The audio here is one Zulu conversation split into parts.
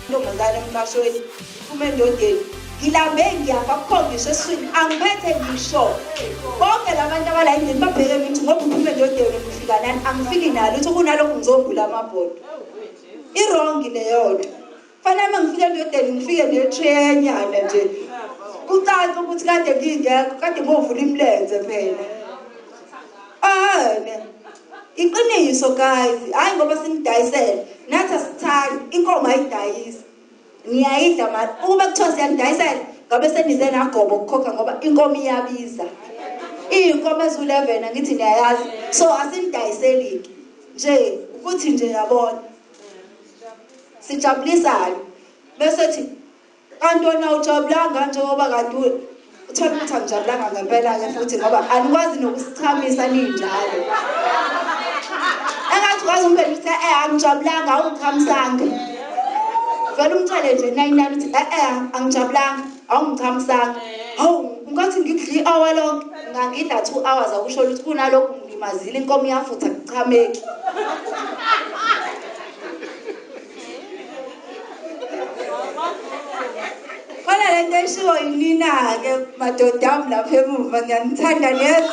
intombazane emqashweni iphuma endodeni ngilambe ngiyafa kukhombisa esiswini angiphethe ngisho bonke la bantu abala endlini babheke mithi ngoba uphuma endodeni ngifika nani angifiki nalo uthi kunalokhu ngizogula amabhodo irongi leyodwa Kufanele uma ngifika endodeni ngifike netreyanyana nje kucaca ukuthi kade ngingekho kade ngovula imilenze phela ane iqiniso guys hayi ngoba simdayisele nathi asithandi inkomo ayidayisi niyayidla mali ukuba kuthiwa siyanidayisela ngabe senize nagobo ukukhokha ngoba inkomo iyabiza iyinkomo ezu-11 angithi niyayazi so asinidayiseli-ke nje ukuthi nje yabona sijabulisani bese thi kanti wena ujabulanga njengoba kanti uthole ukuthi angijabulanga ngempela-ke futhi ngoba anikwazi nokusichamisa ninjalo engathi kwazi umphendula ukuthi e-e angijabulanga awungichamisanga vele umthele nje nayinani ukuthi e-e angijabulanga Awu cha msana. Hawu ngathi ngidla i-hour lonke ngangidla two hours akusho ukuthi kunalokhu ngilimazile inkomo iyafutha kuchameki khona le nto eshiwo yinina-ke madoda ami lapha emuva ngiyanithanda neza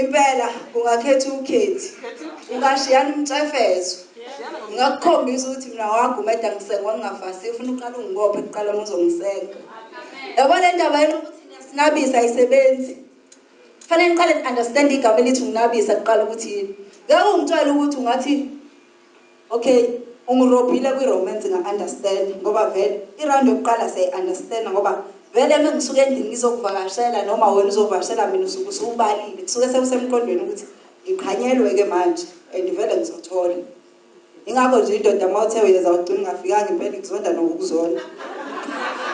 Impela ungakhetha ukhethi. Ungashiyana umcefezo. Ngingakukhombisa ukuthi mina wagumeda ngisengwa ngingafasi. Ufuna uqala ungibophe kuqala uma uzongisenga. Yabo le ndaba yenu ukuthi niyasinabisa ayisebenzi. Fanele niqale ni-understand igama elithi ukunabisa kuqala ukuthi yini. Ngeke ungitshele ukuthi ungathi Ok ungirophile kwi romance nga understand ngoba vele i round yokuqala siyayi understand ngoba vele mengisuke endlini ngizokuvakashela noma wena uzovakashela mina usuke usubalile kusuke sekusemqondweni ukuthi ngiqhanyelwe ke manje and vele ngizothola ingakho nje indoda uma uthe uyeza ugcina ungafikanga impela kuzonda nokukuzona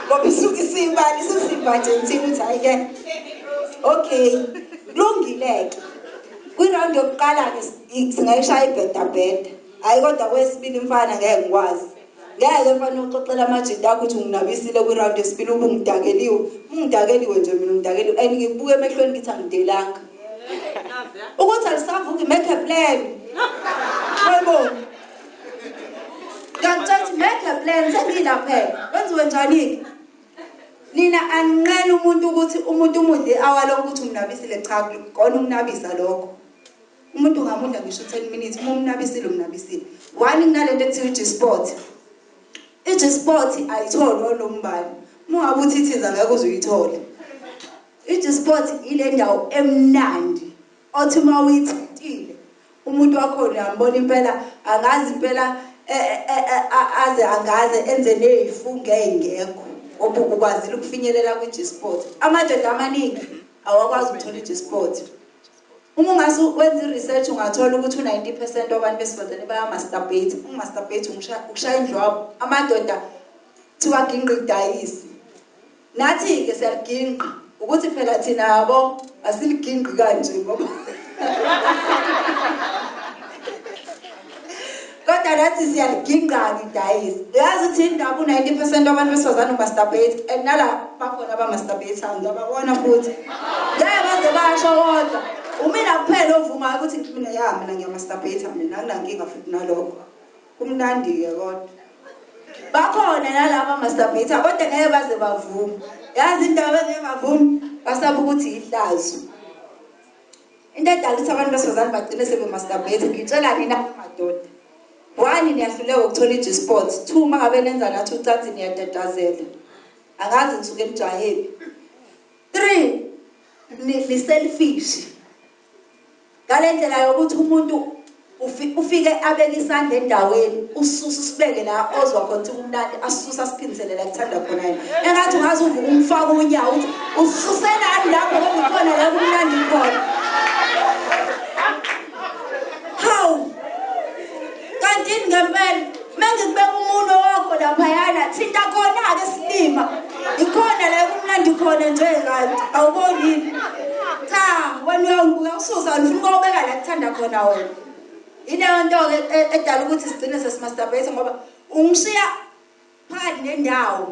ngoba isuke isibali isizimba nje ngithini ukuthi hayi ke okay kulungile-ke kwiround yokuqala-ke singayishaya ibhedabheda hhayi kodwa kwesibili mfana ngeke ngikwazi ngeke mfana uxoxela amajita akho ukuthi unginabisile kwiround yesibili uba ungidakeliwe ungidakeliwe nje mina ungidakeliwe and ngikubuke emehlweni ngithi angidelanga ukuthi alisavuki make a plan wayibona ngiyakutshela ukuthi make a plan sengiyilaphela wenziwe njani-ke Nina aninqeni umuntu ukuthi umuntu umudle i-hour lonke ukuthi umnabisile cha kona ukunabisa lokho. Umuntu ungamudla ngisho 10 minutes uma umnabisile umnabisile. One kunalento ekuthiwa i-G-spot. I-G-spot ayitholwa lombali. Uma ngabe uthi ithiza ngeke uze uyithole. I-G-spot ile ndawo emnandi. Othi uma uyithintile umuntu wakhona uyambona impela angazi impela e, e, e, aze angaze enze neyifunga eyingekho ngoba ukwazile ukufinyelela kwi-gsport amadoda amaningi awakwazi ukuthola i-gsport uma ungase wenze i-research ungathola ukuthi u-90 percent wabantu besifazane bayamasturbate ukumasturbate ukushaya indlwabo amadoda thiwa gingqidayisi Nathi-ke siyaligingqa ukuthi phela thina yabo asiligingqi kanje ngoba kodwa nathi siyaligingqa-ke idayisi uyazi ukuthi indaba u-ninety percent abantu besifazane umasturbate and nala bakhona abamasturbatayo ngiyababona futhi ngeke baze basho kodwa umina kuphela ovumayo ukuthi mina ya mina ngiyamasturbata mina anginankinga futhi nalokho Kumnandi ke kodwa. Bakhona nalaba mastabhitha kodwa ngeke baze bavume. Yazi into abangeke bavume basaba ukuthi ihlazo. Into edala ukuthi abantu besifazane bagcine sebemastabhitha ngitshela nina madoda. One niyahluleka ukuthola i-G sports, two mangabe nenza nathi ucansi niyatatazela. Angazi ngisuke emjahephi. Three ni selfish. Ngale ndlela yokuthi umuntu ufike abeke isandla endaweni ususa usibeke la ozwa khona ukuthi kumnandi asisusa asiphindisele la kuthanda khona yena engathi ungaze uvuke umfaka unyawo uthi ususelani lapho okukhona la kumnandi khona kantini ngempela mengikubeka umuntu wakho laphayana thinta khona-ke silima ikhona la kumnandi khona nje kanti awubonini cha wena uyangibuka usuzani ufuna ukobeka la kuthanda khona wena ileyo nto-ke e, edala ukuthi sigcine sesimasturbate ngoba ungishiya phakathi nendawo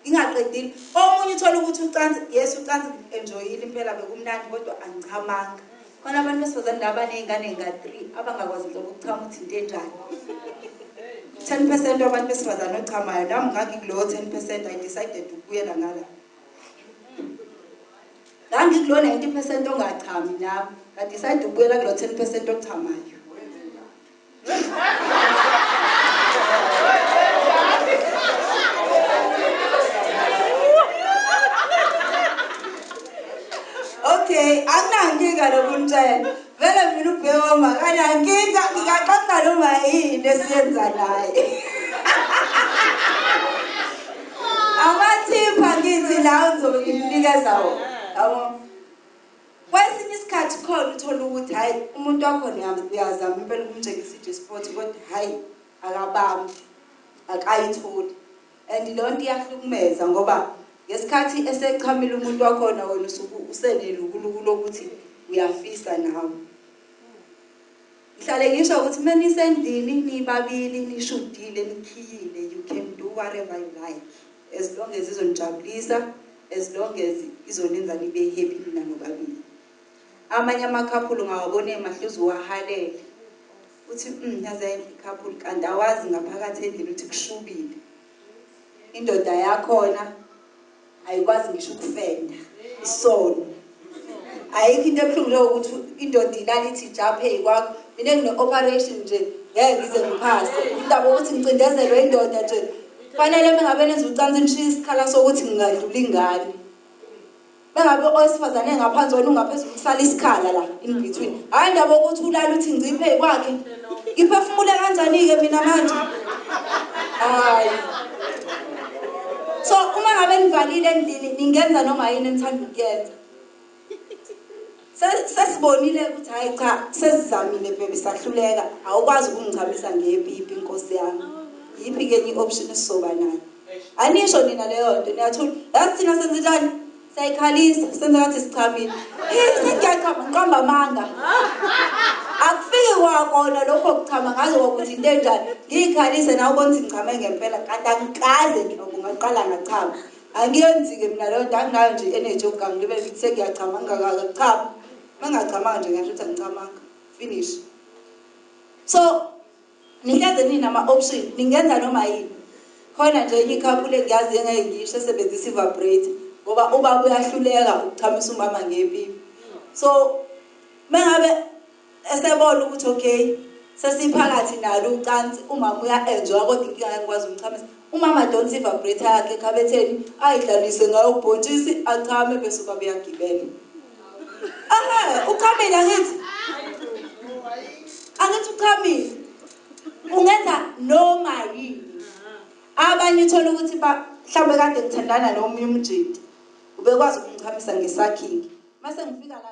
ngingaqedile omunye uthola ukuthi ucansi yes ucansi enjoyile impela bekumnandi kodwa angichamanga khona abantu besifazane la baney'ngane nga-three abangakwazi nhlobo ukuchama ukuthi into enjani ten percent wabantu besifazane ochamayo nami ngangikulowo ten percent i decided ukubuyela ngala ngangikulo ninety percent ongachami nami ngadecide ukubuyela kulo ten percent ochamayo okay anginankinga lokuntshela vele mina ubhewoma kanankinga ngikaxoxa noma yini esiyenza naye amathipha ngithi lawo ngizobe ngimnikeza wona yabo Kwesinye isikhathi khona uthola ukuthi hayi umuntu wakhona uyazama impela ukumtshengisa iJesport kodwa hayi akabambi akayitholi and le nto iyahlukumeza ngoba ngesikhathi esechamile umuntu wakhona wena usuku usenelukuluku lokuthi uyafisa nawe Ngihlale ngisho ukuthi menisendlini nibabili nishudile nikhiyile you can do whatever you like as long as izonijabulisa as long as izonenza nibe happy nina nobabili amanye amakhaphulu ngawabona emahluzi uwahalele uthi mm, yaze yayinhle ikhaphulu kanti awazi ngaphakathi endlini ukuthi kushubile indoda yakhona ayikwazi ngisho ukufenda isono ayikho into ebuhlungu leyo ukuthi indoda ilala ithi japhe kwakho mina ngine-operation nje ngeke ngize ngiphase indaba ukuthi ngicindezelwe indoda nje kufanele mengabe nenza ucansi nishiye isikhala sokuthi ngingadlula ingane bengabe owesifazane engaphansi wena ungaphezulu kusala isikhala la in between hhayi ndaba ukuthi ulala uthi ngciphe kwakhe Ngiphefumule kanjani-ke mina manje? Hayi. So uma ngabe nivalile endlini ningenza noma yini enithanda ukuyenza. Sesibonile ukuthi hayi cha sesizamile bebe sahluleka awukwazi ukungichamisa ngepipi inkosi yami. Yiphi ke enye i-option esizoba nayo? Anisho nina leyo nto niyathula. Yazi thina senzenjani? Siyayikhalisa, senza ngathi sichamile. Eh, sengiyachama ngiqamba amanga. Akufiki kwakona lokho kuchama ngaze kwakuthi into enjani. Ngiyikhalise nawe ubona ukuthi ngichame ngempela kanti angikaze nje ngaqala ngachama. Angiyenzi-ke mina leyo nto anginayo nje energy yokugangi libe sengiyachama ngingakaka chama. Uma ngingachamanga nje ngasho ukuthi angichamanga. Finish. So Ngihleze nina ma option ningenza noma yini khona nje enye couple engiyaziyo engeke ngiyisho esebenzisa ivibrator ngoba ubaba uyahluleka ukuchamisa umama ngepipi so mengabe esebona ukuthi okay sesiphakathi nalo ucansi umama uya enjoy kodwa inkinga yakwazi umchamisa umama don't see vibrator yakhe ekhabetheni ayidlalise ngayo ubhontshisi achame bese ubaba uyagibela Aha, uchamile angithi? Angithi uchamile? Ungenza noma yini. Abanye uthola ukuthi ba mhlawumbe kade ngithandana nomunye umjidi. Ubekwazi ukumchamisa ngesakhingi. Mase ngifika la